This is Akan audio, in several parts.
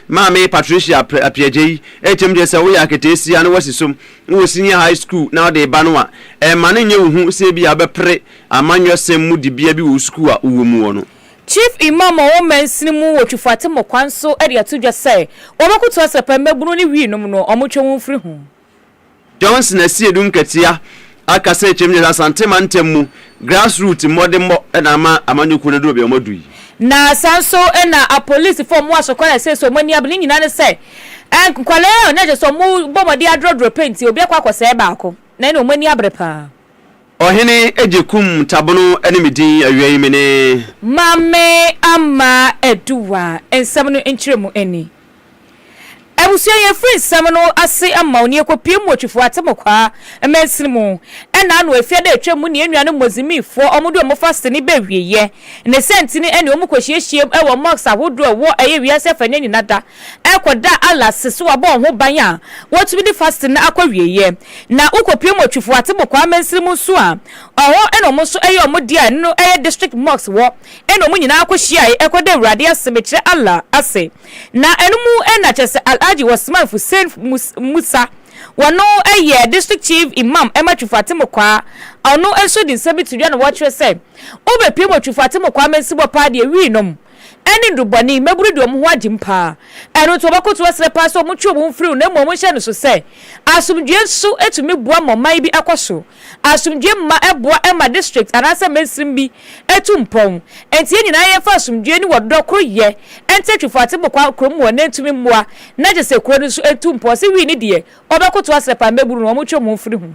Maame Patricia Apiagyei kyerɛm kyerɛ sɛ woyɛ aketeesia na woasi som wɔ Senior High School na wode reba no a, ɛmma no nyɛ wo hu sɛ ebia wobɛpere amanyɔsɛm mu dibea bi wɔ wo sukuu a wowɔ mu hɔ no. Chief Imam a ɔwɔ mansini mu wɔ Twifo Atemmu kwan so de ato dwa sɛ wɔbɛkoto asrapa mmabunu ne wii nom no, wɔntwe wɔn mfiri ho. Johnson asie du nkatia aka sɛ kyerɛm gyina sɛ Asante mantam mu grass root mmɔdemmɔ na ama amanyɔkuo no aduru baabi a wɔadu yi. Na saa nso na apolisifoɔ a wɔwɔ Asokwa na seesei wɔn ani abere. Ne nyinaa ne sɛ, nkwadaa a na kyerɛ sɛ wɔbɔ mmɔden adrɔdrɔ pɛ nti, obi akɔ akɔsɛe baako na ɛnna wɔn ani abere pa ara. Ɔhene gye kum tabono ne me din awiei menee. Maame ama Aduwa nsɛm no nkyerɛmu ani. Abusua yɛn firi nsɛm no ase ma wo ne ɛkɔpie mu Otwifo Atemokwaa mansini mu ɛna ano ɛfie ada atwam mu ne yɛn nuanom Mozimifoɔ wɔn de wɔn fa sini bɛ wieɛ ne santini ɛne wɔn kɔhyiahyiam ɛwɔ mosque ahodoɔ ɛwɔ ɛyɛ wiase afa nya nyina da ɛkɔ da a Allah se so wabɔ wɔn ho ban a wotumi de fasting no akɔ awieɛ, na wokɔpue mu Otwifo ate mokwaa mansini mu nso a, ɔhɔ na wɔn nso ɛyɛ wɔn deɛ a ɛno no ɛyɛ district mosque hɔ na wɔn nyinaa kɔhyiaae ɛkɔ da Awurade ase mekyerɛ Allah ase, na ɛno mu na kyerɛ sɛ Alhaji Osman Hussein Musa wɔno ɛyɛ district chief Imam ɛma Twifo ate mokwaa, ɔno nso de nsɛm bi to dwa na wɔkyerɛ sɛ wobɛpue mu Otwifo ate mokwaa mansibɔ paa deɛ wii nom. ɛne nnubɔne, mmabunu de wɔn ho agye mu paa. Ɛno nti, wɔbɛkotow asrɛ paa sɛ wɔntwe wɔn ho mfiri ho na mmom wɔnhyɛ no so sɛ asomdwoe nso tumi boa ma ɔman bi kɔ so. Asomdwoe mma ɛboa ma district anaasɛ mansin bi tu mpɔn. Enti yɛn nyinaa yɛmfa asomdwoe ne ɔdɔ koroyɛ nte Twifo Atebokwa kurom mmoa na entumi mmoa na kyerɛ sɛ kurow no nso ntu mpɔn sɛ wii ne deɛ, wɔbɛkotow asrɛ paa mmabunu no wɔntwe wɔn ho mfiri ho.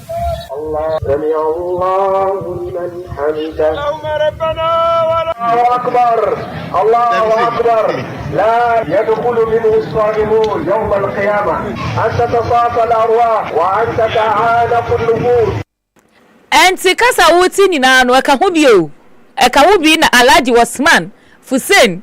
Ɛnte kasa a wote nyinaa no ɛka ho bi o ɛka wo bi na Alhaji Osman Fussein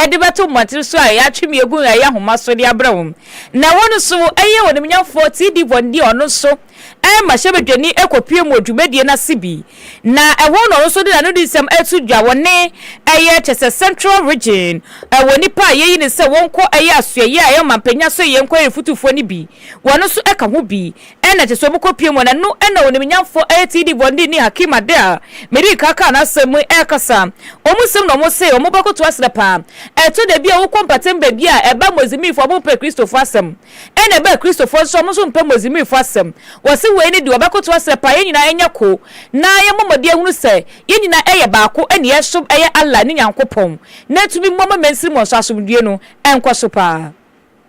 de bɛto mmɔnten so a yɛatwe me agu a ɛyɛ nhoma so de abrɛ wɔn, na ɛhɔ no nso ɛyɛ Onimnyamfoɔ T. D. Von Deer ɔno nso mmarahyɛbadwani kɔpue mu wɔ dwumadie no ase bi, na ɛhɔ na ɔno nso de n'ano di nsɛm to dwa wɔ ne ɛyɛ kyɛ sɛ Central Region wɔ nnipa a yɛyi no sɛ wɔnkɔ ɛyɛ asoɛyɛ a ɛyɛ ɔmampanya asoɛyɛ nkɔyɛ fotufoɔ no bi, wɔn nso ka ho bi Ɛna ɛte sɛ wɔkɔpie mu, na ɛno na onimnyamfoɔ ATD Bɔndini Hakim Adeh a medii kan kaa n'asɛm mu yi rekasa. Wɔn nsɛm na wɔse wɔbɛkoto asene paa. Ɛtɔ da bi a wokɔ mpɔtem baabi a ɛba Mozimbifoɔ a wɔmpɛ Kristofoɔ asɛm. Ɛna ɛba Kristofoɔ nso a wɔn nso mpɛ Mozimbifoɔ asɛm. Wɔse wei ne deɛ wɔbɛkoto asene paa, yɛn nyinaa nyɛ ko na yɛmmɔ mmɔden ahunu sɛ yɛn nyinaa yɛ baako ne yɛsom yɛn Allah ne Nyankopɔn na atumi mmoa ma mansini mu nso asomdwoeɛ no nkɔ so paa.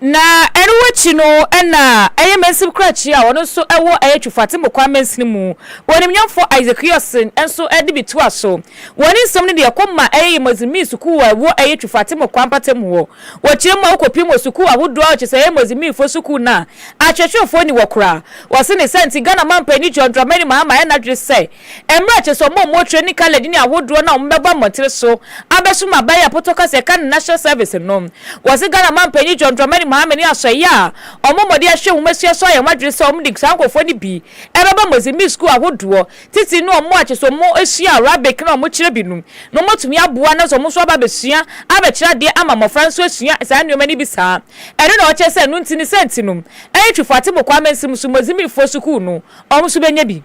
Na ɛno akyi no na ɛyɛ mansini krakye a ɔno nso ɛwɔ ɛyɛ Twofate Mokwa mansini mu wɔ animnyamfoɔ Isaac Hewson nso de bi toa so wɔ ne nsɛm no de ɛkɔ ma ɛyɛ Yemazimi sukuu a ɛwɔ ɛyɛ Twofate Mokwa mpatamu hɔ wɔ kyerɛ mu a wokɔpiem wɔ sukuu ahodoɔ a ɔkyerɛ sɛ Yemazimifoɔ sukuu no a akyerɛkyerɛfoɔ nni hɔ koraa wɔse ne saa nti Ghana mampanin John Dramani Mahama ayɛ n'adwene sɛ Mmerɛ a ɛkyerɛ sɛ wɔn a wɔrekyerɛ ne Khaled ne ahodoɔ no a wɔbɛbɔ mmɔntene so abɛsom aban a Poto ka sɛ ɛka ne National Service no. Wɔse Ghana manpanyin John Dramani Mahama ne asɔeɛ a wɔbɔ mmɔden ahwehwɛ nwomasua so ayɛ wɔn adwene sɛ wɔde saa nkorɔfoɔ no bi bɛba Mozambique sukuu ahodoɔ titire no a wɔn a kyerɛ sɛ wɔsua Arabic na wɔkyerɛ bi no na wɔatumi aboa na wɔn nso aba abɛsua abɛkyerɛ adeɛ ama mmɔfra nso asua saa nnoɔma no bi saa ɛno na wɔkyerɛ sɛ ɛno nti ne saa nti no Eritrefoɔ Atebokwaa Amansin mu nso Mozambiquefoɔ sukuu no wɔn nso bɛnya bi.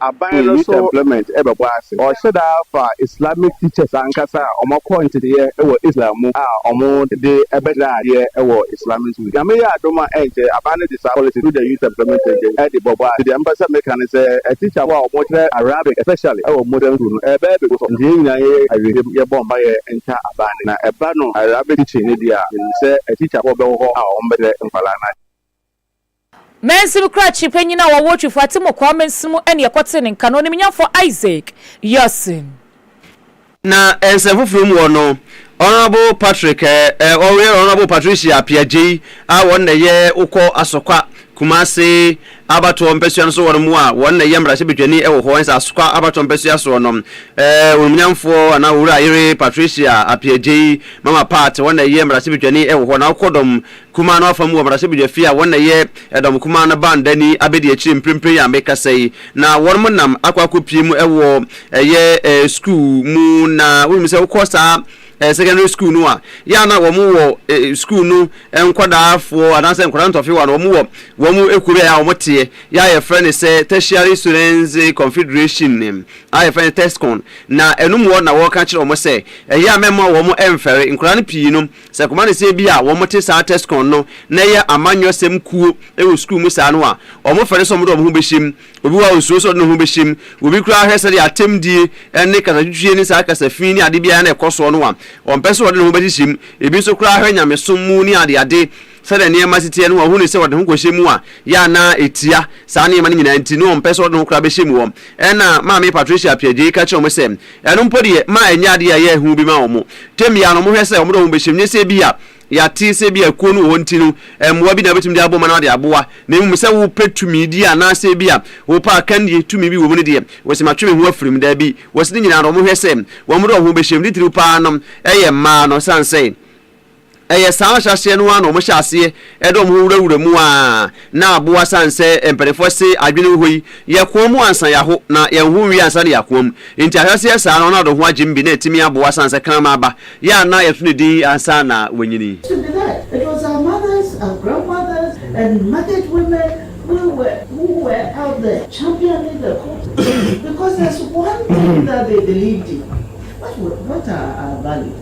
Aban no so ɔhyɛ da fa Islamic teachers ankasa a wɔakɔ nteteeɛ wɔ Islam mu a wɔde bɛkyerɛ adeɛ wɔ Islamic schools. Nyame yɛ adom a ɛnkyɛ aban no de saa policy through the Youth Employment Agency de bɔbɔ ase. Nti deɛ mepɛ sɛ meka ne sɛ teacher fo a wɔkyerɛ Arabic especially wɔ modern school no ɛbɛyɛ begu so. Nti yɛn nyinaa yɛyɛ awieeɛ yɛbɔ mpaeɛ nka aban no na ɛba no Arabic teaching no deɛ a menim sɛ teacher fo bɛwɔ hɔ a wɔbɛkyerɛ nkwadaa no adeɛ. Mansin kurakye panyin a ɔwɔ Twifo Atemmu Kwaa Mansin mu ne ɛkɔtee ne nka no, Onimnyamfo Isaac Yurson. Na nsɛm foforo mu wɔ no, Honourable Patrick eh, ɔyɛ Honourable Patricia Appiagyei a wɔn na ɛyɛ wokɔ Asokwa, Kumase abatoɔ mpɛsua no so hɔ nom a wɔn na ɛyɛ mmarahyɛbadwani wɔ hɔ nso Asokwa abatoɔ mpɛsua soɔ nom eh, Onimnyamfoɔ anaa Owura Ayere Patricia Appiagyei, Mama Pat, wɔn na ɛyɛ mmarahyɛbadwani wɔ hɔ na wokɔ dɔm Kumaa no afa mu wɔ Mmarahyɛbadwa fie a wɔn na ɛyɛ Ɛdɔm Kumaa no Baandani abedi akyire mprempren yi a mekasa yi, na wɔnom nam akɔ akɔpie mu wɔ ɛyɛ eh, sukuu mu, na wonim sɛ wokɔ saa eh, secondary school no a, yɛ a na wɔn wɔ eh, sukuu no eh, nkwadaafoɔ anaasɛ nkwadaa ntɔfewa no wɔn wɔ wɔn ekuo bi a yɛ a wɔn teɛ, yɛ a yɛfrɛ no sɛ Tertiary Students Confederation eh, a yɛfrɛ no TESCON, na ɛno mu hɔ na wɔka kyerɛ wɔn sɛ ɛyɛ a mɛma wɔn ɛmfɛre nkwadaa no pii no Sɛ Komanese bi a wɔn te saa Tescon no na ɛyɛ amanyɔsɛm kuo wɔ sukuu mu saa no a, wɔn fɛre sɛ wɔn de wɔn ho bɛhyɛ mu. Obi wɔ hɔ a ɔnsuro sɛ ɔde ne ho bɛhyɛ mu. Obi koraa hwɛ sɛdeɛ atɛmdie ne kasatwitwie ne saa kasa fi ne adeɛ biara na ɛkɔ soɔ no a, ɔmpɛ sɛ ɔde ne ho bɛhyehyɛ mu. Ebi nso koraa hwɛ nyamesom mu ne adeade. Sɛnea nneɛma si teɛ no, ɔhuu no sɛ ɔde ne ho kɔhyɛ mu a, yɛ a na etia saa nneɛma no nyinaa nti, na ɔmpɛ sɛ ɔde ne ho koraa bɛhyɛ mu hɔ. Ɛnna Maame Patricia Appiagyei ka kyerɛɛ wɔn sɛ, Ɛno mpo deɛ, mma ɛnyɛ adeɛ a ɛyɛ hu bi mma wɔn. Tɛm biara no, wɔhwɛ sɛ wɔde wɔn bɛhyɛ mu, nyɛ sɛ ebia yɛate sɛ ebia kuo no wɔ hɔ nti no, mmoa bi na wobɛtumi de abɔ ma na wɔde aboa, na mmom sɛ wopɛ tumidie anaasɛ ebia wopɛ akannidie tumi bi wɔ mu no deɛ, wɔse matwe me ho afiri mu. Dabi, wɔse ne nyinaa no, wɔhwɛ sɛ wɔde wɔn ho bɛhyɛ mu. Titiriw paa no, ɛyɛ mmaa no, ɛsiane sɛ. Ɛyɛ saa ahyɛaseɛ no ara na wɔhyɛ aseɛ de wɔn ho wurawura mu ara na aboa sane sɛ mpanimfoɔ se adwene wɔ hɔ yi, yɛ koa mu ansa yɛaho, na yɛn ho nwie ansa na yɛ akoa mu. Enti ahyɛaseɛ saa no, Ronaldo ho agyem bi na ɛtumi aboa sane sɛ kraman ba, yɛ a na yɛto no din ansa na wanyini. To be there, it was our mothers, our grandmothers and market women we were who were out there championing the cause because there's one thing that they believed in, what were what are our values?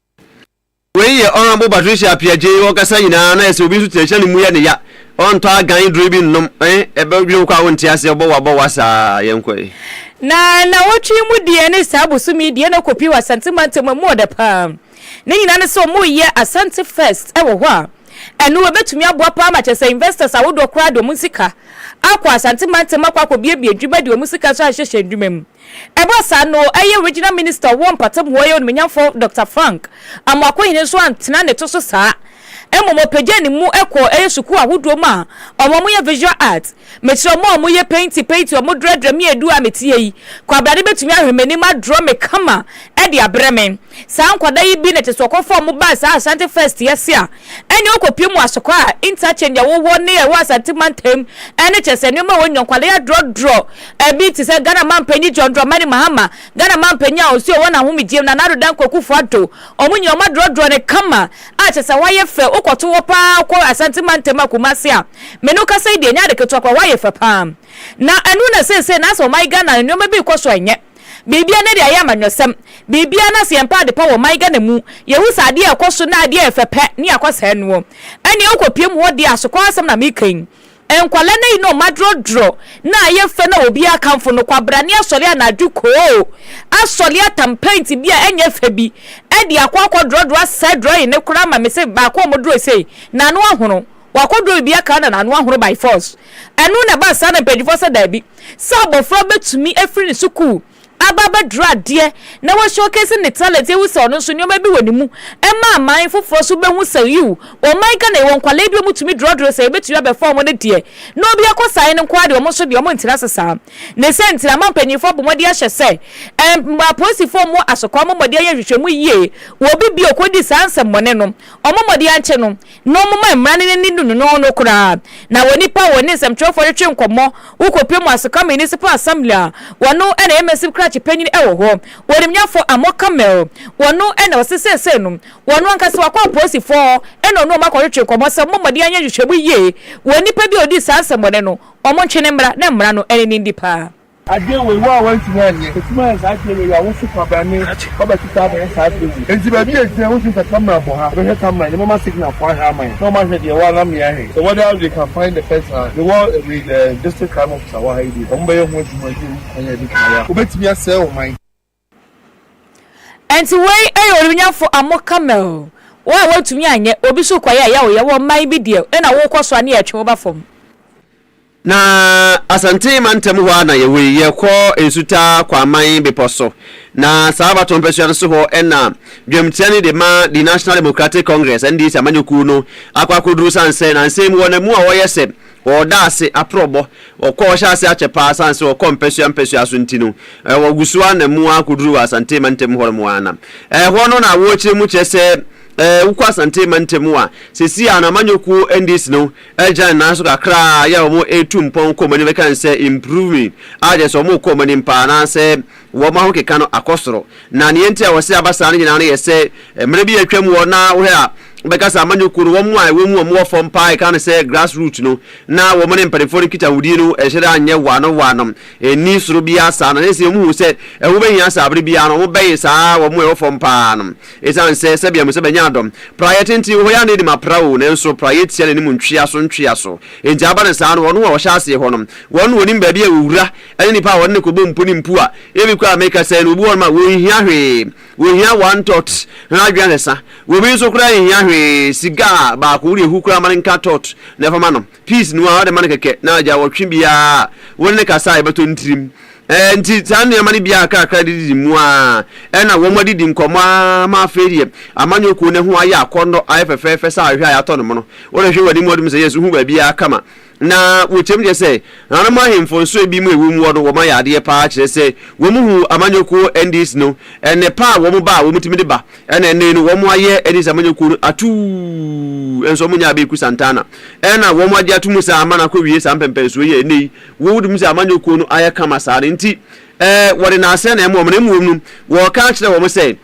Wei yɛ Honourable Patricia Appiah-Gyei hɔ kasa nyinaa na ɛsɛ obi nso tena hyɛ no mu yɛ ne ya. Ɔntɔ agan duro bi nnom eh, ɛbɛ dwene wo kɔ a wo nte aseɛ, ɔbɔ wo abɔ wo asaa, yɛ nkɔ eh. Na nnawɔtwe yi mu deɛ ne saa bosome yi deɛ na ɛkɔ pii wɔ Asante mantam a ɛmu ɔdɛ paa. Ne nyinaa ne sɛ wɔreyɛ Asante Fest wɔ hɔ a ɛno ɛbɛtumi aboa paa ma kyerɛ sɛ investors ahodoɔ koraa de wɔn sika akɔ Asante mantam akɔ akɔbuebue dwuma de wɔn sika nso ahyehyɛ adwuma mu. Ɛbaa saa no, ɛyɛ Regional Minister a ɔwɔ Mpatamuwa yi Onumenyamfo Dɔkta Frank Amoako-Hene nso antena ne to so saa, mmom ɔpagyaa ne mu kɔɔ ɛyɛ sukuu ahodoɔ mu a wɔn a wɔyɛ Visual Art. Mekyerɛ wɔn a wɔyɛ painting painting wɔn drɛdrɛ me adu a meteɛ yi, kwabrane bɛtumi ahwɛ m'anim adrɔ me kama de abrɛ me. Saa nkwadaa yi bi na ɛte sɛ wɔkɔfa wɔn baa saa Ashanti First yi ase a ɛnneɛ wɔkɔpue mu asokɔ a interchange a ɛwɔ hɔ ne a ɛwɔ Asante mantam ne kyerɛ sɛ nneɛma a wɔnya nkwadaa yi adrɔdrɔ ɛbi te sɛ Ghana Mampanyin John Dramani Mahama, Ghana Mampanyin a ɔsi ɔwɔ n'ahomegyeɛ mu Nana Addo Dankwa Akufo Addo, wɔn nyinaa wɔadrɔdrɔ no kama a kyerɛ sɛ wɔayɛ fɛ, wokɔto hɔ pa ara wokɔ Asante mantam a Kumasi a me ne wo kasa yi deɛ ɛnyɛ ade ketewa koraa, wɔayɛ fɛ pa ara na ɛno na seesei na asɛ wɔayɛ Ghana nneɛma bi rekɔ so a ɛnyɛ. Biribiara no de ayɛ amanyɔsɛm, biribiara no asɛ yɛn pɛ adepa wɔ ɔman Ghana mu, yɛhu sɛ adeɛ a ɛkɔ so na adeɛ a ɛfɛ pɛ ne akwasaa noɔ. Ɛneɛ wo kɔ piam hɔ deɛ a asokɔ asɛm na meka yi. Nkwadaa no ayi no ɔma drɔdrɔ na ayɛ fɛ na obiara kamfo no, kwabrane asɔre anadwo koo asɔre atam paint bi a ɛnyɛ fɛ bi de akɔ akɔ drɔdrɔ asɛe drawing no koraa ma mese baako a ɔmo draw sei n'ano ahono Wakodow bi aka na n'ano ahoro by force. Ɛno na ɛbaa saa na mpanyinfoɔ sɛ daabi. Sɛ abɔfra bɛtumi afiri ne sukuu aba abɛduru adeɛ na wa showcase ne talent yɛhu sɛ ɔno nso nneɛma bi wɔ ne mu ɛma aman foforɔ nso bɛhu sɛ yiw ɔman Ghana yɛwɔ nkwadaa bi a wɔtumi drɔdrɔ sɛ yɛbɛtumi abɛfa wɔn no deɛ na obi akɔ saa ɛno nko ara deɛ wɔn nso deɛ wɔn ntena ase saa ne sɛ nti na ama mpanyinfoɔ abɔ mmɔden ahyɛ sɛ ɛm apolisifoɔ mmɔ asɔkwa wɔn mmɔden ayɛ nhwehwɛmu yie wɔ obi bi a ɔkɔdi saa nsɛmmɔne no wɔn mmɔden ankyɛ no na ɔmoma mmara no n'ani no no no koraa, na wɔ nnipa a wɔne nsɛmtwerɛfoɔ retwe nkɔmmɔ wo kɔpɛ mu ase ka Municipal Assembly a wɔno na ɛyɛ Mɛsip krakye panyin wɔ hɔ, wɔnimnyafɔ Amor Kamel, wɔno na ɔse seesei no wɔno ankasa wakɔ apolisifɔɔ na ɔne wɔn akɔtwetwe nkɔmmɔ sɛ wɔmmɔ mmɔden anyɛ nhwehwɛmu yie wɔ nnipa bi a ɔdii saa nsɛmmɔne no wɔntwe no mmra na mmara no n'ani ndi paa. Adwen wei wo a wantumi anyɛ. Ɛtumi ayɛ saa adeɛ wei a wo so kwabrane wabɛte saa bɛyɛ saa adeɛ wei. Ɛnti baabi a ɛgyina wosi sɛ camera bɔ ha bɛhwɛ camera no mɛma signal foɔ ahwɛ ama yɛn na wɔn ahwɛ deɛ ɛwɔ ha na me ahwɛ sɛ whether they can find the person a mewɔ ɛwei the district crime officer wɔ ha yi deɛ wɔn bɛyɛ ho adwuma ne ɛmu kwan a ɛbɛtumi ayɛ a wɔbɛtumi asɛe ɔman. Enti wei yɛ onimnyafo Amo Kamel, wo a woantumi anyɛ obi so kɔyɛɛ yawoyɛ wɔ ɔman bi deɛ ɛna worekɔ so ane ɛretwe woba fam. Na Asante mantam hɔ ara na yɛwɔ yi, yɛkɔ Nsutaa Kwaman bepɔ so, na saa abatoɔ mpasua no so hɔ na dwamtia no de ma The National Democratic Congress, NDC, amanyɔkuo no akɔ akɔduru sane sɛ nansa yi mu wɔn amu a wɔyɛ sɛ Wɔda ase aprɔbɔ. Wɔkɔ wɔhyɛ ase akyɛ paa asiane sɛ wɔkɔ mpasua mpasua so nti no, wɔgu so ara na mu ara kɔduru wɔ Asante mantam hɔ nom ara na ɛhɔ no na wɔkyerɛ mu kyerɛ sɛ wokɔ Asante mantam a seesei a no amanyɔkuo NDC no agyina ne nan so kakra a yɛ a wɔretu mpɔn kɔ wɔn anim ɛkan sɛ improving a kyerɛ sɛ wɔrekɔ wɔn anim paa anaasɛ wɔn ahokeka no akɔ soro. Na nea enti a wɔse aba saa no nyinaa no yɛ sɛ, mmerɛ bi a atwam hɔ na wohwɛ a, wobɛka sɛ amanyɔkuo no, wɔn a ɛwɔ mu a wɔwɔ fam paa a yɛka no sɛ grass root no, na wɔn ne mpanimfoɔ no nkitahodie no nhyɛ da nyɛ wɔano wɔano, ɛnni soro biara saa. Na ɛsei wɔhuu sɛ ɛho bɛhia sɛ aberɛ biara no wɔbɛn saa wɔn a ɛwɔ fam paa no, ɛsiane sɛ sɛdeɛ mo sɛ bɛnya adɔ. Praeɛ tenten wɔ hɔ, yɛanna anim apra o, nanso praeɛ tia n'anim ntweaso ntweaso. Enti aba no saa no, wɔn a wɔhyɛ aseɛ hɔ no, wɔn na wɔnim baabi a wɔwura, ɛne nipa a wɔde no kɔbɔ mpo ne mpu a ebi koraa a meka sɛ no obi wɔ hɔnom a wɔnhia hwee, wɔhia one tot ho adweansesa, obi nso koraa nhia hwee, sigaa baako wode ahu koraa ma no nka tot na ɛfa ma no, piece no ara wode ma no kɛkɛ na agya wɔtwe biara a wone no kasa a ɛbɛtɔ ne tirim. Ɛɛ nti saa nneɛma no biara kakra de didi mu a ɛna wɔn adidi nkɔmmɔ a ma afei deɛ amanyɔ kuo no ho ayɛ akɔnnɔ ayɛ fɛfɛɛfɛ sɛ ahwehwɛ a yɛatɔ no mono wode hwɛ w'anim wɔde mu sɛ yɛsu hu baabiara kama Na wɔtwam kyerɛ sɛ nananom ahemfo nsoe bi mu a wɔn wɔ no wɔma yɛ adeɛ paa kyerɛ sɛ wɔn hu amanyɔkuo NDs no ɛnɛ pa a wɔn ba a wɔtumi de ba ɛna ɛnɛ no wɔn ayɛ NDs amanyɔkuo no atuu nso wɔn nyaa bɛɛku Santana ɛna wɔn agye ato mu saa ama no akɔ wie saa mpɛmpɛnsoɔ yi a ɛnɛ yi wɔwɔ mu sɛ amanyɔkuo no ayɛ kama saa no nti Ɛɛ, wɔde nnaaseɛ na ɛma wɔn, na mmom no, wɔka kyerɛ wɔn sɛ,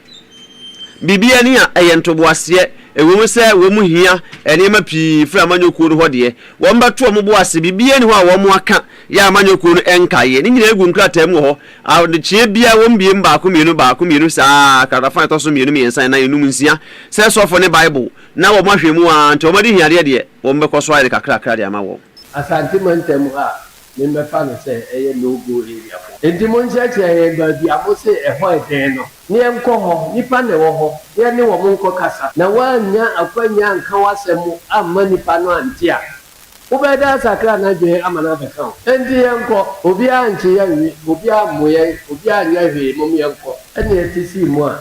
Biribi ani a ɛyɛ ntoboaseɛ, ɛwom sɛ wɔn hia nneɛma pii firi amanyɔkuo no hɔ deɛ, wɔbɛto wɔn bo ase, biribiara nni hɔ a wɔaka yɛ a amanyɔkuo no nkaeɛ, ne nyinaa gu nkrataa mu wɔ hɔ, adekyeɛ biara wɔbue mu baako mmienu, baako mmienu, saa ara, kratafa a ɛtɔ so mmienu, mmiɛnsa, nnan, nnum, nsia, sɛ sɔfo ne Bible, na wɔahwɛ mu ara nti wɔadi hiadeɛ deɛ, wɔbɛkɔ so ayɛ no kakrakra de ama wɔn. Asante Mantam ha me mbɛfa no sɛ ɛyɛ no go area for. Nti mo nkyerɛkyerɛ yɛn baabi a mo se ɛhɔ yɛ dɛn no. Ne yɛn kɔ hɔ, nipa na ɛwɔ hɔ, ne yɛ ne wɔn nkɔ kasa. Na woannya akwanya anka w'asɛm amma nipa no ante a, wo bɛ da asakra n'adwene ama no abɛka wo. Nti yɛn kɔ, obiara ankye yɛn nwi, obiara ammo yɛn, obiara anyɛ hwee, mom yɛn kɔ. Ɛnna yɛte sii mu a,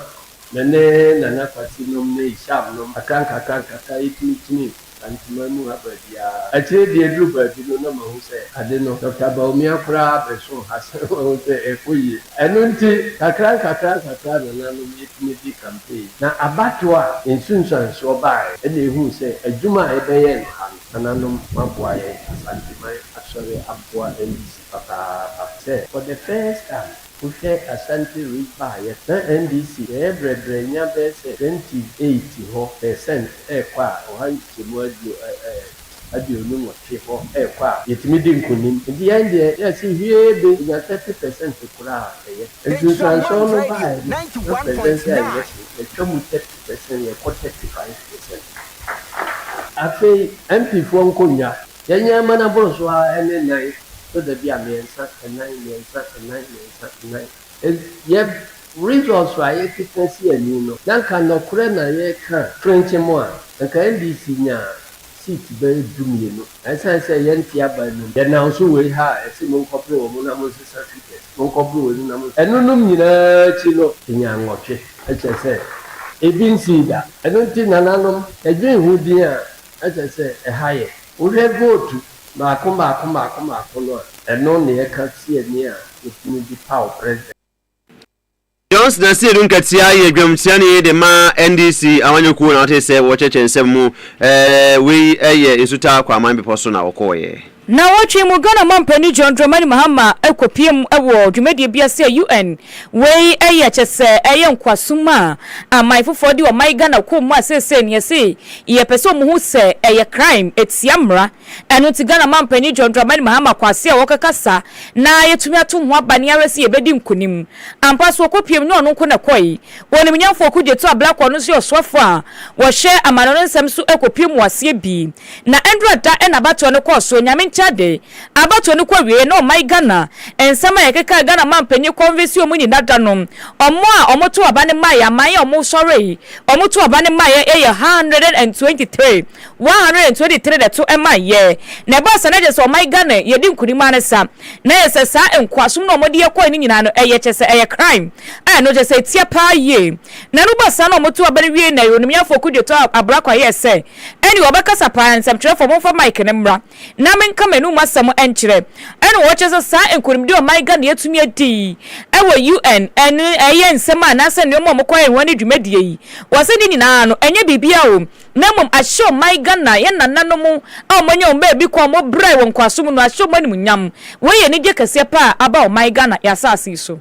me ne Nana Kwasi nom ne Isham nom, kakra nkakra nkakra yɛtumi kyinii mu. Enti mammu ha baabiara. Akyire de aduru baabi no na mahu sɛ ade no, Dɔkta Bawumia koraa abɛso ha sɛ wahu sɛ ɛrekɔ yie. Ɛno nti, nkakrankakra nkakra a nananom yɛtumi di campaign. Na abatoɔ a nsunsuansoɔ baaɛ ɛna ɛhuu sɛ adwuma a yɛbɛyɛ no ha no, nananom moaboa yɛn, Asanteman asɔre aboa ndc papaapa sɛ for the first time. Wohwɛ Asante Rip a, yɛtena NDC bɛyɛ brɛbrɛ nya bɛyɛ sɛ 28 hɔ per cent rekɔ a, ɔha nkyekyɛmu aduonu nwɔtwe hɔ rekɔ a, yɛtumi di nkunim. Nti yɛn deɛ, yɛse hwiee be nya 30 per cent koraa a, ɛyɛ. Nsunsuansoɔ no baeɛ no, na presidential election no, yɛtwa mu 30 per cent, yɛkɔ 35 per cent. Afei MP foɔ nkonnwa. Yɛnyɛ mma no aboro so ara ɛne nan so da bi a mmiɛnsa, nnan, mmiɛnsa, nnan, mmiɛnsa, nnan. Enti yɛ results a yɛkeka si ani no, na nka nɔkorɛ na yɛreka a, frenkye mo a, anka NDC nya seat bɛyɛ du mmienu. Na ɛsiane sɛ yɛnte aba anim, yɛnam so wei ha a yɛse monkɔpere wɔn na monsesa figures, monkɔpere wei no na monsesa. Ɛnonom nyinaa akyi no, yɛnya nnwɔtwe. Ɛkyerɛ sɛ ebi nsii da. Ɛno nti nananom, yɛdwen ho din a Ɛsɛ sɛ ɛha yɛ. Wohwɛ vootu mmaako mmaako mmaako mmaako no a, ɛno na yɛka siani a wotumi de paw president. Johnson na Seydou Nketiah yɛ dwamsiani de ma NDC amanyɔ kuo na wote sɛ wɔkyerɛkyerɛ nsɛm mu ɛɛ wei yɛ Nsutaa Kwaman bepɔ so na wɔkɔɔyɛ. Naawɔtwe mu Ghana Ɔmanpanin John Dramani Mahama kɔpueeɛm wɔ dwumadie bi ase a UN wei yɛ kyɛsɛ ɛyɛ nkoasom a aman foforɔ de ɔman Ghana kɔɔ mu a seesei no yɛse yɛpɛ sɛ ɔmo hu sɛ ɛyɛ crime ɛtia mmra ɛno nti Ghana Ɔmanpanin John Dramani Mahama kɔ ase a ɔkakasa na yɛtumi ato ho aba ne ara sɛ yɛbɛdi nkunim ampa so ɔkɔpueɛm nyɛ ɔno nko na ɛkɔe Ɔnimnyamfoɔ Kudiatu Ablakwa ɔno nso yɛ ɔsoafoɔ a ɔhwɛ amane no nsɛm so kɔpueɛm wɔ aseɛ bi Na ndura da na abatoɔ no kɔɔ soɔ, Nyame nkyɛn ade. Abatoɔ no kɔ wieɛ na ɔman Ghana, nsɛm a yɛkekaa Ghana manpanyin convesio mu nyina da no, ɔmo a ɔmo too aba no maeɛ, aman a ɔmo sɔree, ɔmo too aba no maeɛ yɛ one hundred and twenty three, one hundred and twenty three na ɛto maeɛ. Na ɛbaa saa na kyerɛ sɛ ɔman Ghana yɛdi nkunim ara ne sa, na yɛ sɛ saa nkoasom no a ɔmo de yɛ kɔɔe no nyinaa no ɛyɛ kyerɛ sɛ ɛyɛ crime a ɛno kyerɛ sɛ ɛtia paa yie. Na ɛno baa saa na ɔmo too aba no wiei na yɛ Onimyɛfoɔ Kudjo too abrakwa yɛɛ sɛ, Ɛnde wɔbɛkasa paa, nsɛmtwerɛfoɔ, momfa mic no mmra na menka m'anum asɛm nkyerɛ. Ɛnna wɔkyerɛ sɛ saa nkonimdie a ɔman Ghana atumi adi yi wɔ UN no ɛyɛ nsɛm a anaasɛ nneɛma a wɔkɔyɛ ho ne dwumadie yi. Wɔse ne nyinaa no ɛnyɛ biribiara o, na mmom ahyɛ ɔman Ghana, yɛn nananom a wɔanya wɔn baabi kwan, wɔbrae wɔ nkoasom no, ahyɛ wɔn animuonyam. Wei yɛ anigyeɛ kɛseɛ paa a aba ɔman Ghana, yɛn asase yi so.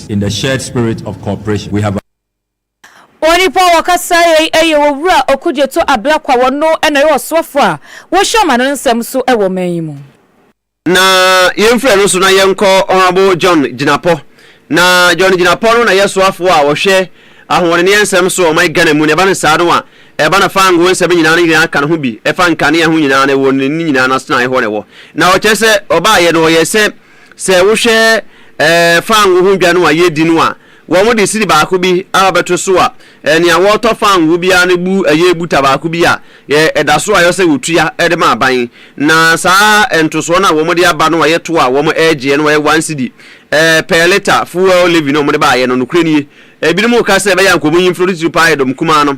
In the shared spirit of cooperation, we have. Onipa a ɔkasaa yei yɛ Owura Okudzeto Ablakwa, ɔno na ɔyɛ ɔsoafo a wɔhwɛ ɔman no nsɛm so wɔ ɔman yi mu. Na yɛmfrɛ no nso na yɛnkɔ Honourable John Jinapor. Na John Jinapor no na yɛ soafoɔ a ɔhwɛ ahoɔdeneɛ nsɛm so wɔ ɔman Ghana mu. Na ɛba no saa no a, ɛba no fango nsɛm nyinaa no nyinaa ka ne ho bi, ɛfa nkanea ho nyinaa no ɛwɔ ne ne nyinaa no asenaeɛ hɔ na ɛwɔ. Na ɔkyerɛ sɛ ɔbaeɛ no ɔyɛɛ sɛ. Sɛ wohwɛ fango ho dwa no a yɛredi no a, wɔde sidi baako bi abɛto so a, nea wɔtɔ fango biara no bu ɛyɛ buta baako bi a ɛda so a ɛyɛ sɛ wɔtua de ma aban. Na saa ntosoɔ no a wɔde aba no a ɛyɛ to a wɔregyeɛ no ɛyɛ one sidi per litre fuel levy no a wɔde baeɛ no, nokorɛ nie. Ebinom reka sɛ ɛbɛyɛ a nka wɔnyi mfiri no titiriw paa yɛ dɔm kumaa no.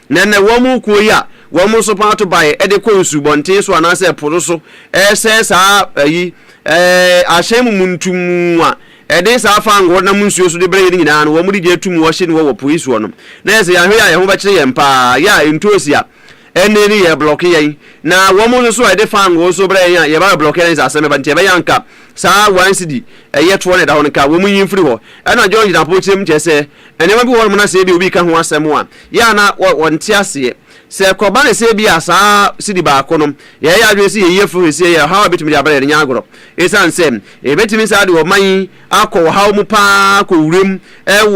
Na ɛnnɛ, wɔn kuo yi a wɔn nso pɔn ato baeɛ de kɔ nsubɔnten so anaasɛ po no so resɛe saa ayi, eh, ahyɛn mu muntumu a ɛde saa fangoo nam nsuo so de brɛ yɛn no nyinaa no, wɔn de gye atum wɔhye no wɔ wɔ po yi soɔ no. Na ɛsɛ yɛahwɛ yɛ a yɛn ho bɛkyere yɛn paa yɛ a ntoosi a ɛnne no yɛ blɔke yɛn. Na wɔn nso so a ɛde fangoo nso brɛ yɛn a yɛba bɛblɔke yɛn sɛ asɛm bɛba nti ɛbɛyɛ anka saa one cedi ɛyɛ toɔ na ɛda hɔ no nka wɔn nyi mfiri hɔ. Ɛna John gyina pokyerɛ mu kyerɛ sɛ Nneɛma bi wɔ hɔnom na sɛ ebia obi ka ho asɛm a, yɛ a na wɔnte aseɛ. Sɛ ɛkɔba ne sɛ ebia saa sidi baako no, yɛyɛ yɛn adwene sɛ yɛyi afiri hɔ seesei, ɛyɛ ɔhaw a ɛbɛtumi de aba yɛn, ɛnyɛ agorɔ. Ɛsiane sɛ ɛbɛtumi saa de ɔman yi akɔ ɔhaw mu pa ara akɔ wura mu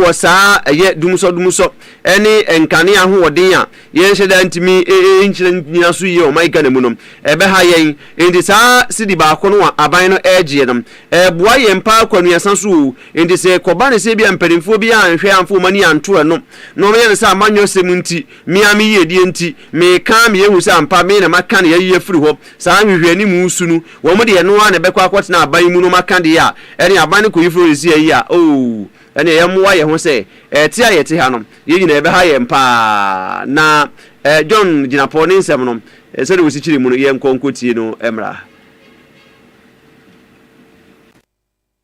wɔ saa ɛyɛ dumusɔdumusɔ ne nkanea ahoɔden a yɛnhyɛ da ntumi nkyerɛ nnyina so yie wɔ ɔman Ghana mu no, ɛbɛha yɛn. Enti saa sidi baako no a aban no regyeɛ no, ɛboa yɛn pa ara kɔ anuasa so o, Enti sɛ ɛkɔba no sɛ ebia mpanimfoɔ bi anhwɛ amfa wɔn ani anto ɛno, na wɔyɛ no sɛ amanyɔsɛm nti, me ara me yiedie nti, meka a meyɛ hu sɛ ampa me na maka na yɛayi afiri hɔ, saa nhwehwɛanimu su no, wɔn deɛ ɛno ara na ɛbɛkɔ akɔtena aban mu na wɔaka deɛ a ɛne aban no kɔyi firi hɔ sisi ayi a, oo, ɛnneɛ yɛmmoa yɛn ho sɛ ɛte a yɛte ha no, yei nyinaa ɛbɛha yɛn pa ara. Na eh, John Gyinapɔ ne nsɛm no, eh, sɛdeɛ wɔsi kyerɛ mu no, yɛnkɔ nkɔtie no mmra.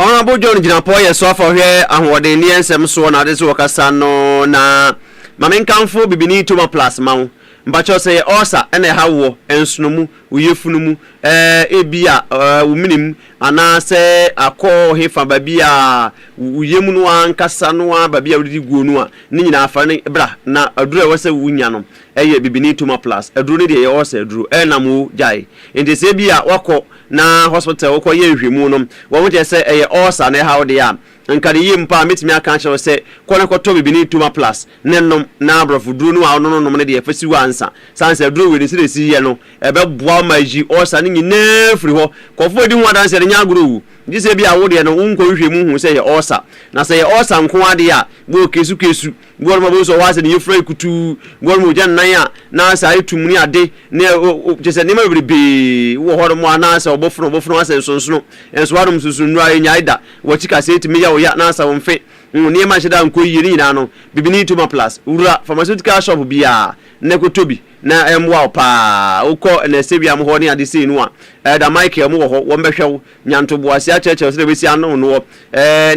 Honourable John Gyinapɔ yɛ soafo a ɔhwɛ ahoɔden ne nsɛm soɔ na ade so wɔ kasa no na ma menkamfo bibini toma plus ma wo mpakyɛw sɛ yɛ ulcer na ɛha woɔ nsono mu wo yefunu mu eh ebi a eh wo mene mu anaa sɛ akɔ hefa baabi a wo yam no ankasa no a baabi a wodidi guo no a ne nyinaa fa ne bra na aduro a ɛwɔ sɛ wo nya no ɛyɛ bibini toma plus aduro ne deɛ yɛ ulcer aduro ɛnam wo gyae nti sɛ ebi a wakɔ na hospital wokɔ yɛ nhwɛmu no wɔn kyerɛ sɛ ɛyɛ ulcer na ɛha wo deɛ a, nka ne yie mpo a mɛtumi aka akyerɛ wo sɛ kɔ na kɔtɔ bibini toma plus ne nom na aborɔfo duro no a wono no nom no deɛ fa si w'ansa sane sɛ aduro wei no sɛdeɛ ɛsi yɛ no ɛbɛboa wo ma ayi ulcer no nyinaa firi hɔ kɔfoɔ di ho adanseɛ no nyɛ agorɔ owu gye sɛ bi a wo deɛ no wonkɔ nhwɛmu hu sɛ ɛyɛ ulcer na sɛ ɛyɛ ulcer nko ara deɛ a bɔ kesu kesu Nguan ma bonsu a ɔwɔ ha sɛ ne yafura yɛ kutuu, nguan ma ogya nnan a n'ase ayɛ tumm ne ade, ne ɛ, o, o, kyerɛ sɛ nneɛma bebrebee wɔ hɔnom a na sɛ ɔbofono a ɔbofono asɛ nsonsono, nso hɔnom nsonsonono a ennyae da, w'akyi kasa etumi ya wo ya na asa wo mfe. Wo nneɛma nhyɛ da nkɔ yiye, ne nyinaa no, bibini Tomaplast, wura pharmaceutical shop biara na kɔtɔ bi na ɛmmoa wo paa. Wokɔ nɛsɛwiam hɔ ne ade sei no a, Elder Michael, wɔwɔ hɔ, wɔbɛhwɛ wo. Nya ntoboase akyerɛkyerɛ sɛdeɛ wobɛsi ano wo noɔ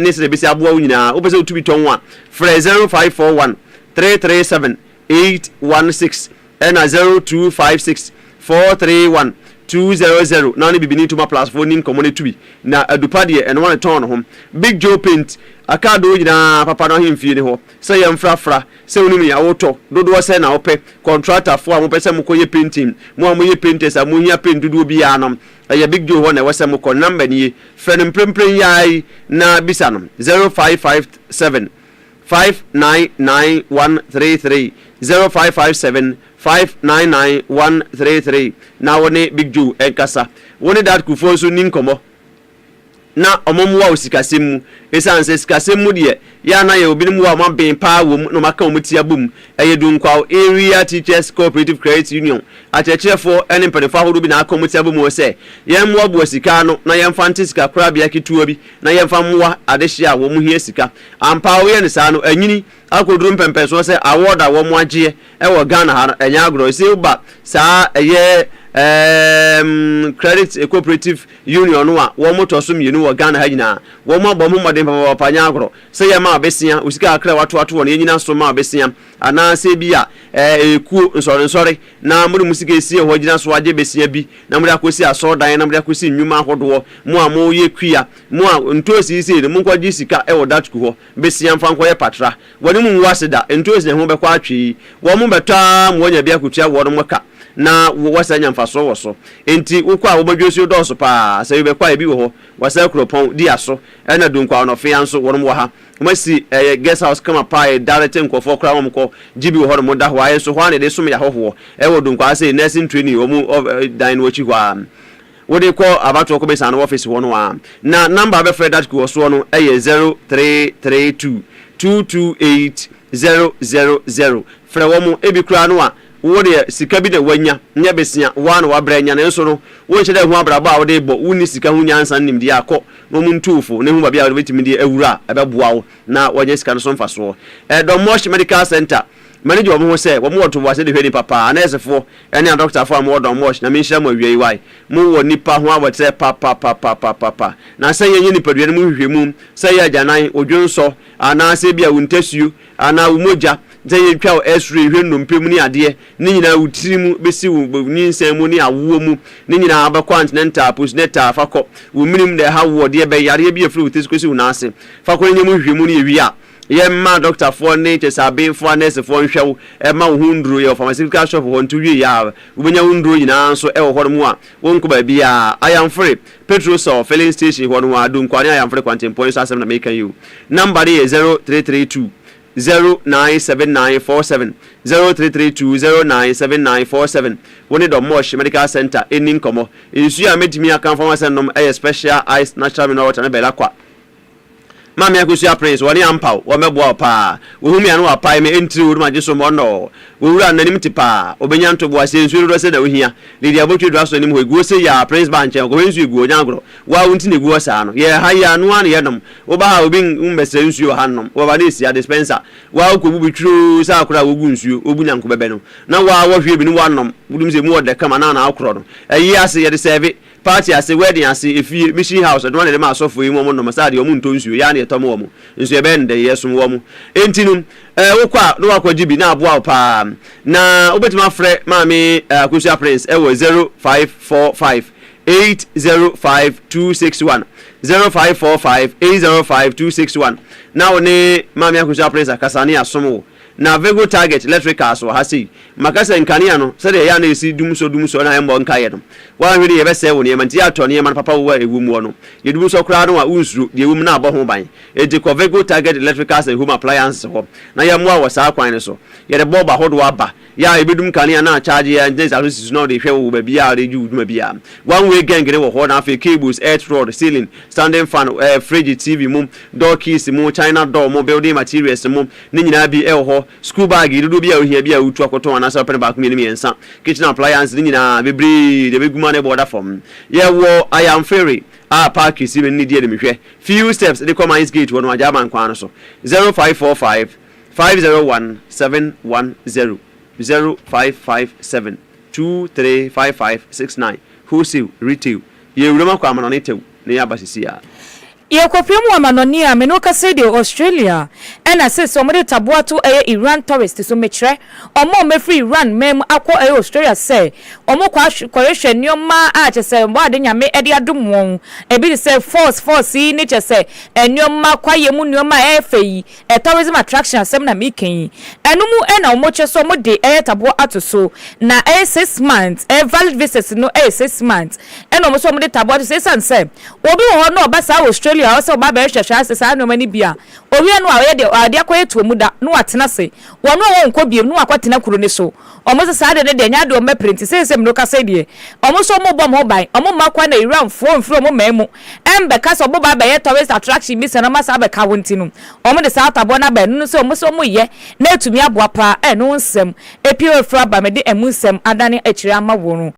ne sɛdeɛ ɛbɛsi aboa wo nyinaa. Wopɛ sɛ wotumi tɔn a, frɛ 0541 337 816 ɛna 0256 431 200 na wo ne Bibini Ntoma Plus foɔ nni nkɔmmɔ na tumi na adupa deɛ ɛno wɔn tɔn no ho. Big Joe Paint, Akaadoo nyinaa papa no ahemfie ne hɔ sɛ yɛmfrafra sɛ wonim nea wotɔ, dodoɔ sɛn na wopɛ, kɔntratafoɔ a mopɛ sɛ mokɔyɛ painting, mo a moyɛ painters a mohia paint dodoɔ biara no, Ɛyɛ Big Joe hɔ na ɛwɔ sɛ mokɔ. Ne nɔmba nie. Frɛ no mprempren yi ara yi na bisa no, zero five five seven, five nine nine one three three, zero five five seven, five nine nine one three three, na wo ne Big Joe nkasa. Wo ne Dad Kufuor nso nni nkɔmmɔ. na wɔmmoa wo sikasɛm mu. Esiane sɛ sikasɛm mu deɛ, yɛ a na yɛwɔ binom wɔ a wɔaben paa wom na wɔaka wɔn ti abom. Ɛyɛ Dunkwaw Area Teachers Cooperative Credit Union akyerɛkyerɛfoɔ ne mpanimfoɔ ahodoɔ bi na wɔaka wɔn ti abom hɔ sɛ yɛmmoaboa sika ano na yɛmfa nte sikakorabea ketewa bi na yɛmfa mmoa adehyeɛ a wɔhia sika. Ampa ara woyɛ no saa no, anyini. Akɔduru mpɛmpɛnsoɔ sɛ award a wɔn agyeɛ ɛwɔ Ghana ha no ɛnyɛ agorɔ. Ese woba saa ɛyɛ ɛɛm credit cooperative union no a wɔn tɔ so mmienu wɔ Ghana ha nyinaa. Wɔn abɔ wɔn ho mmɔden papaapa nyɛ agorɔ. Sɛ yɛ ma a ɔbɛsia wo sika kakra a wato ato hɔ no yɛ nyina so ma a ɔbɛsia. Anaa sɛ ebia ɛɛ ɛyɛ kuo nsɔre nsɔre na mo de mo sika ɛsia hɔ gyina so agye bɛsia bi na mo de akɔ si asɔrdan na mo de akɔ si nnwuma ahodoɔ. Mo a mo yɛ kua mo a ntoosi yi sei no mo nkɔ gye sika ɛwɔ Datku hɔ. Besia mfa nkɔyɛ patra. Wɔne mo ngu ase da, nto nsi na ho bɛkɔ atwe. Wɔn bɛtɔ ara ma wɔanya bi akotua wɔn ka, na wɔsan nya mfaso wɔ so. Enti wokɔ a, wɔn adwinsuo dɔɔso pa ara. Sɛ wibɛkɔ a, ebi wɔ hɔ. Wɔasɛe kuropɔn, di aso, ɛnna Dunkwa Ɔnɔfea nso, wɔn wɔ ha. Wɔasi ɛyɛ guest house kama pa ara, yɛda rete nkurɔfoɔ koraa ma wɔkɔ gye bi wɔ hɔ nom da hɔ ara. Nso hɔ ara na yɛde som yɛn ahɔhoɔ. Ɛwɔ Dunkwa ha sei, nursing training wɔn dan no akyi hɔ ara. Wode kɔ abatoɔ kɔbɛsa no office hɔ no a, na number a wobɛfrɛ that kuo soɔ no yɛ zero three three two two two eight zero zero zero. Frɛ wɔn, ebi koraa no a wo deɛ sika bi na wanya, nyɛ bɛsia, wo ara na wabrɛ anya nanso no wonhyɛ da nhu abrabɔ a wode rebɔ, wonni sika ho nyansa ne nimdeɛ a, kɔ na wɔn ntu wo fo na hu baabi a wobɛtumi de awura a ɛbɛboa wo na wanya sika no so mfasoɔ. Dommorsh Medical Centre, m'ani gye wɔn ho sɛ wɔn wɔ ntoboaseɛ de hwɛ nnipa paa, anɛɛsefoɔ, Ɛne adɔkotafo a mowɔ dɔn mo wɔ Nyame nhyira mo awiei wai mo wɔ nipa ho abɔterɛ papapapapapapa na sɛ yɛnyɛ nipadua no mu nhwehwɛmu sɛ ɛyɛ agyanan wo dwonsɔ anaa sɛ ebia wo ntasuo anaa wo mogya sɛ yɛtwa wo x-ray hwɛ nnompe mu ne adeɛ ne nyinaa wo tiri mu bɛsi wo nyinsɛn mu ne awoɔ mu ne nyinaa wobɛkɔ antenatal postnatal fa kɔ wo menim na ɛha woɔ deɛ bɛn yareɛ bi afiri wo tiri so kɔsi wo nan ase fa kɔ no nyɛ mu nhwehwɛmu no yɛwie a Yɛmma dɔktafoɔ ne kyerɛ sɛ abenfoɔ anɛɛsefoɔ nhwɛ wo mma wo ho nnuro. Yɛwɔ pharmaceutical shop hɔ nti wowie yɛ a wobɛnya wo nnuro nyinaa nso wɔ hɔ nom a wonkɔ baabiara. Ayanfre, Petrosol filling station hɔ no ara, Dunkwa ne Ayanfre kwantempɔn yi so asɛm na mereka yi o. Number no yɛ zero three three two zero nine seven nine four seven, zero three three two zero nine seven nine four seven. Wo ne Domosh Medical Centre nni nkɔmmɔ. Nsuo a mɛtumi aka mfa ho asɛ nom yɛ Special Ice Natural Mineral Water ne Belaqua. Maame Akosua Prince, wɔne ampaw, wɔmmɛboa wo paa. Wohu me a na wɔapae me, ɛntiriw wo, na magye so mmɔnnɔ. Wo wura no, n'anim te paa. Obenya ntoboa, sɛ nsuo dodoɔ sɛn na wohia. Lady Abotwe dura so anim hɔ, ɛgu hɔ sei aa, Prince ba nkyɛn, ɔkɔhwɛ nsuo ɛgu hɔ, ɔnya agorɔ. Wo a wo nti na ɛgu hɔ saa no. Yɛwɔ ha yi aa, noa na yɛnom. Woba ha a, obi mmɛsrɛ nsuo wɔ ha nnom. Wɔba na ɛsi a, dispenser. Wo a wokɔbu bi tweroo sɛ akora a wogu nsuo, wogu nyanko bɛbɛ no. Na wo a wɔhwie bi ne woanom, wonim sɛ ɛmu ɔdɛ kama, na na akorɔ no. Ɛye ase, yɛde sɛɛve. Party ase, wedding ase, efie, mission house, ɔdom a na yɛde ma asɔfo yi mu wɔn nnɔma saa deɛ wɔn ntɔ nsuo, yɛa na yɛtɔm wɔn, nso yɛbɛyɛ no dɛn? Yɛsom wɔn. Enti no, eh, wokɔ a na woakɔ gye bi na aboa wo paa. Na wobɛtumi afrɛ Maame Akosua Prince ɛwɔ zero five four five eight zero five two six one, zero five four five eight zero five two six one, na wo ne Maame Akosua Prince akasa na yɛasom wo. Na Vego Target Electricals wɔ ha sei. Maka sɛ nkanea no, sɛdeɛ ɛyɛ a na ɛsi dumsɔ dumsɔ na ɛmmɔ nkaeɛ no. Woanhwɛ no yie ɛbɛsɛe wo nneɛma, nti yɛatɔ nneɛma no papa wɔ a ɛwɔ mu hɔ no. Deɛ dumsɔ koraa no a, wonsuro, deɛ ɛwɔ mu no ara bɔ ho ban. Enti kɔ Vego Target Electricals and Home Appliances hɔ na yɛmmoa wo wɔ saa kwan no so. Yɛde bɔɔbo ahodoɔ aba, yɛ a ɛbɛdum kanea na akyagye yɛ a ɛntena nsaso si so na wode rehwɛ wɔ baabi a wode redi wo dwuma biara. One way gɛngene wɔ hɔ na afei cables, earth rod, ceiling, standing fan, ɛɛ fridge, TV mu, door keys mu, china door mu, building materials mu, Ne nyinaa bi wɔ hɔ. Sukuu baage dodoɔ biara a ohia biara a wotu akɔtɔn anaasɛ ɔpɛ no baako mmienu mmiɛnsa. Kitchen appliances ne nyinaa bebree deɛ bɛgu mu ara na ɛbɔ ɔda fam. Yɛwɔ Ayamfere a park kɛseɛ mmienu ne di anim hwɛ. Few steps de kɔ Mines Gate hɔ no Agyaman kwan no so. Zero five four five, five zero one, seven one zero, zero five five seven, two three five five six nine. Wholesale, retail. Yɛwɔ Wuram akɔ Amanɔne Tɛw na yɛaba seesei ara. Yɛkɔhwɛɛ mu amanɔne a me ne wo kasa yi deɛ Australia ɛna seesei ɔmo de taboa to ɛyɛ Iran tourist so mekyerɛ ɔmo a ɔmo afiri Iran man mu akɔ ɛyɛ Australia sɛ ɔmo kɔ akɔhwehwɛ nnoɔma a kyɛsɛ bɔ ade Nyame ɛde adom wɔn ebi te sɛ falls falls yi ne kyɛsɛ nnoɔma kwaeɛ mu nnoɔma a ɛyɛ fɛ yi Eh tourism attraction asɛm na meka yi ɛno mu eh na ɔmo kyɛ sɛ ɔmo de eh taboɔ ato so na ɛyɛ six months eh valid visas no ɛyɛ six months ɛna ɔmo sɛ ɔmo de taboɔ ato so ɛsan sɛ obi wɔ hɔ na ɔba saa Australia ɔsɛ ɔba abɛyɛ hwɛhwɛ asɛ saa nnoɔma no bi a owia no a ɔyɛ deɛ ɔde akɔ yɛ toɔ mu da na watena se wɔn a wɔn kɔ biem na wakɔ tena kuro no so ɔmo sɛ saa deɛ no deɛ nyɛ adeɛ ɔmo bɛpere nti sɛ sɛ mino kasa yi deɛ ɔmo sɛ ɔmo bɔ ɔmo ho ban ɔmo mma kwan na Iran foɔ mfiri ɔmo man mu ɛmbɛka sɛ ɔmo ba abɛyɛ tourist attraction bi sɛ na ɔmo asan abɛka wo nti no ɔmo de saa ataboa no aba ɛno no sɛ ɔmo sɛ ɔmo yɛ na ɛtumi aboa paa ɛno nsɛm ɛpie wɔ firi aba mede ɛmu nsɛm adane akyire ama wo no.